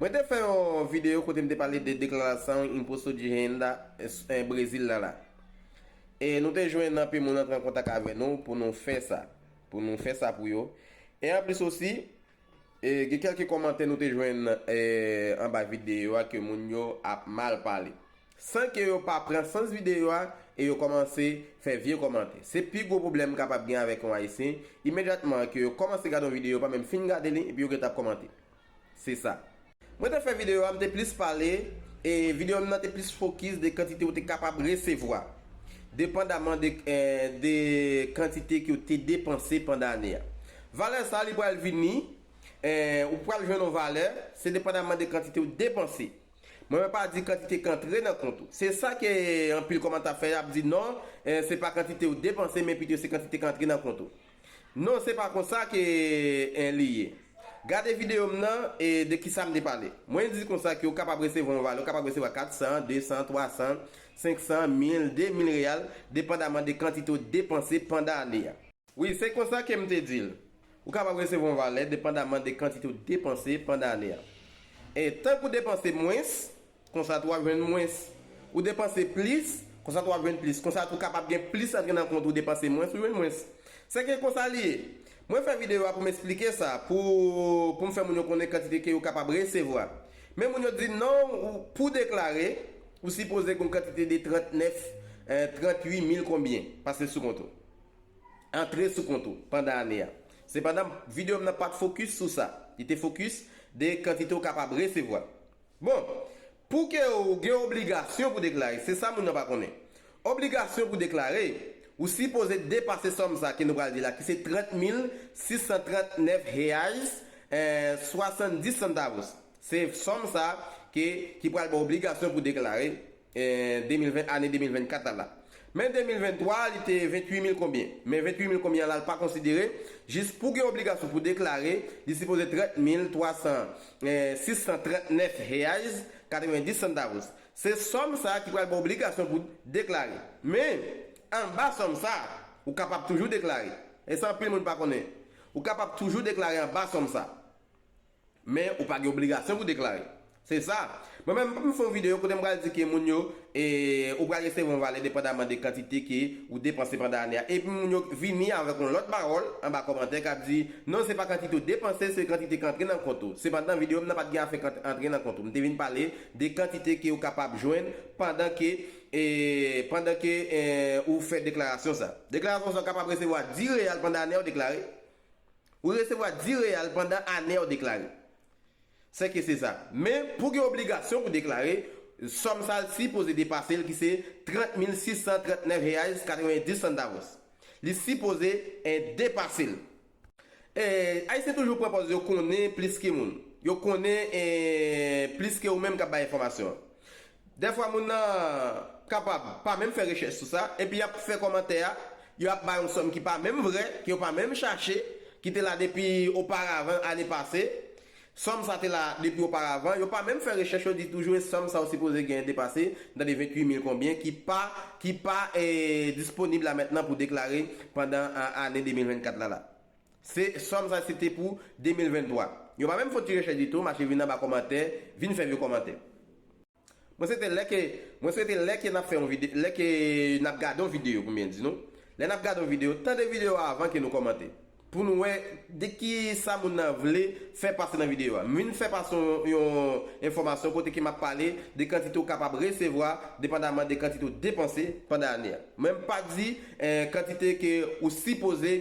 Mwen te fè yon video kote m te pale de deklarasyon Imposto de Renda Brezil la la. E nou te jwenn anpe moun antre an kontak avè nou pou nou fè sa. Pou nou fè sa pou yo. E anplis osi, gen kelke komantè nou te jwenn anba video a ke moun yo ap mal pale. San ke yo pa pran sans video a e yo komanse fè vye komantè. Se pi gwo pwoblèm kapab gen avèk yon Ayisyen, imedyatman ke yo komanse gade yon video yo pa menm fin gade li epi yo gentan ap komante. Se sa. Mwen te fè videyo a, m te plis pale, e videyo m nan te plis fokis de kantite ou te kapab resevwa, depandaman de de kantite ke w te depanse pandan ane a. Valè sa a li pral vini, ou pral jwenn yon valè, se depandaman de kantite ou depanse. Mwen mwen pa di kantite k antre nan kont ou. Se sa ke anpil kòmantè ap fè, y ap di non, se pa kantite ou depanse, men pito se kantite k antre nan kont ou. Non se pa konsa ke en li ye. Gade video m nan e de kisa m te pale. Mwen di konsa ke ou kapab resevwa yon vale, ou kapab resevwa 400, 200, 300, 500, 1000, 2000 real depandaman de kantite ou depanse pandan ane a. Wi, se konsa ke m te di l. Ou kapab resevwa yon vale depandaman de kantite ou depanse pandan ane a. E tank ou depanse mwens, Konsa tou wap jwenn mwens. Ou depanse plis, konsa tou wap jwenn plis. Konsa tou kapab gen plis antre nan kont ou depanse mwens ou jwenn mwens. Sèke konsa li ye. Mwen fè videyo a pou m esplike sa, pou pou m fè moun yo konnen kantite ke yo kapab resevwa. Men moun yo di m non ou pou deklare, ou sipoze gen yon kantite de 39, 38 mil konbyen pase sou kont ou. Antre sou kont ou pandan ane a. Sepandan videyo m nan pat fokis sou sa. Li te fokis de kantite ou kapab resevwa. Bon, pou ke ou gen obligasyon pou deklare, se sa moun nan pa konnen. Obligasyon pou deklare, ou sipoze depase sòm sa ke nou pral di la ki se 30 mil 639 reais e 70 centavos. Se sòm sa ke ki pral ba w obligasyon pou deklare. 2020 ane 2024 la la. Men 2023 li te 28 mil konbyen. Men 28 mil konbyen an la l pa konsidere, jis pou gen obligasyon pou deklare, li sipoze 30 mil 300 639 reais 90 centavos. Se sòm sa ki pral ba w obligasyon pou deklare. Men, anba sòm sa, ou kapab toujou deklare. E sa anpil moun pa konnen. Ou kapab toujou deklare anba sòm sa. Men ou pa gen obligasyon pou deklare. Se sa. Mwen menm, m pap fè yon videyo kote m pral di ke moun yo, e, ou pral resevwa yon valè depandaman de kantite ke ou depanse pandan ane a. Epi moun yo vini avèk yon lòt pawòl anba kòmantè kap di, non se pa kantite ou depanse, se kantite k antre nan kont ou. Sepandan videyo m nan pat gen afè kantite antre nan kont ou. M te vin pale de kantite ke ou kapab jwenn pandan ke, e, pandan ke, e, ou fè deklarasyon sa. Deklarasyon sa ou kapab resevwa 10 real pandan ane a ou deklare. Ou resevwa di real pandan ane a ou deklare. Sè ke se sa. Men, pou gen obligasyon pou deklare, sòm sa l si poze depase l ki se 30.639 reais 90 centavos. Li si poze en depase l. Ee, Ayisyen toujou pran pòz yo konnen plis ke moun. Yo konnen, ee, plis ke ou menm k ap bay enfòmasyon an. Dèfwa moun nan kapab pa menm fè rechèch sou sa, epi y ap fè kòmantè a, yo ap bay yon sòm ki pa menm vrè, ke yo pa menm chache, ki te la depi oparavan ane pase. Sòm sa te la depi oparavan, yo pa menm fè rechèch yo di toujou e sòm sa yo sipoze genyen depase, m tande 28 mil konbyen, ki pa ki pa disponib la mètnan pou deklare pandan ane 2024 la la. Se sòm sa se te pou 2023. Yo pa menm fon ti rechèch ditou mache vin anba kòmantè vin fè vye kòmantè. Mwen swete lè ke mwen swete lè ke nap fè yon vide lè ke nap gade yon video pou m byen di nou lè nap gade yon video tande video a avan ke nou kòmante pou nou wè de ki sa moun nan vle fè pase nan video a m vin fè pase yon yon enfòmasyon kote ke map pale de kantite ou kapab resevwa depandaman de kantite ou depanse pandan ane a. Mwen m pa di kantite ke ou sipoze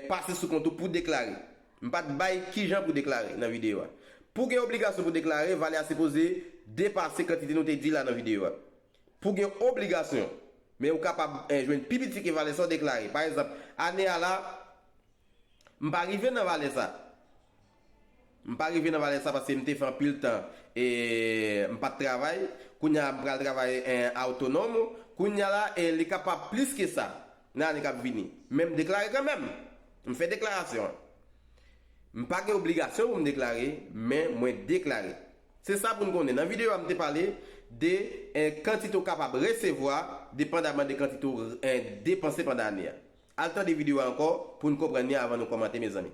pase sou kont ou pou deklare. M pa t bay kijan pou deklare nan videyo a. Pou gen obligasyon pou deklare, valè a sipoze depase kantite nou te di la nan videyo a. Pou gen obligasyon. Men ou kapab jwenn pi piti ke valè sa ou deklare. Pa egzanp, ane a la, m pa rive nan valè sa. M pa rive nan valè sa paske m te fè anpil tan e m pat travay, kounye a m pral travay en autonome, kounye a la e li kapab plis ke sa nan ane kap vini. Men m deklare kanmenm! M fè deklarasyon an. M pa gen obligasyon pou m deklare, men mwen deklare. Se sa pou n konnen, nan videyo a m te pale de kantite ou kapab resevwa depandaman de kantite ou depanse pandan ane a. Al tande videyo a ankò pou n konprann li avan nou kòmante mezanmi.